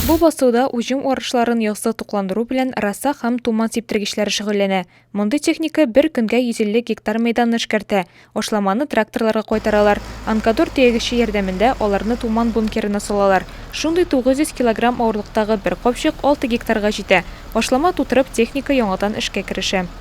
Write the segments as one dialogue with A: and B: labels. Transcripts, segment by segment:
A: Бу басуда уҗым арышларын яссы тукландыру белән раса һәм туман сиптергечләре шөгыльләнә. Мондый техника бер көнгә 150 гектар мәйданны эшкәртә. Ашламаны тракторларга кайтаралар. Анкадор төягече ярдәмендә аларны туман бункерына салалар. Шундый 900 килограмм авырлыктагы бер капчык 6 гектарга җитә. Ашлама тутырып, техника яңадан эшкә керешә.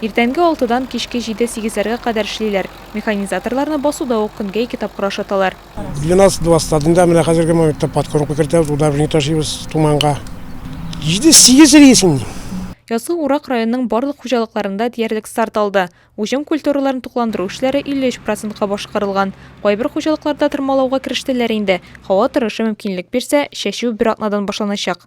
A: Иртәнге алтыдан кичке җиде-сигезләргә кадәр эшлиләр. Механизаторларны басуда ук көнгә ике тапкыр ашаталар. Для нас два стадында
B: менә хәзерге моментта подкормка кертәбез, удобрение ташыйбыз Туманга. Җиде-сигез рейсын дим. Язгы урак
A: районның барлык хуҗалыкларында диярлек старт алды. Уҗым культураларын тукландыру эшләре 53 процентка башкарылган. Кайбер хуҗалыкларда тырмалауга керештеләр инде. Һава торышы мөмкинлек бирсә, чәчү бер атнадан башланачак.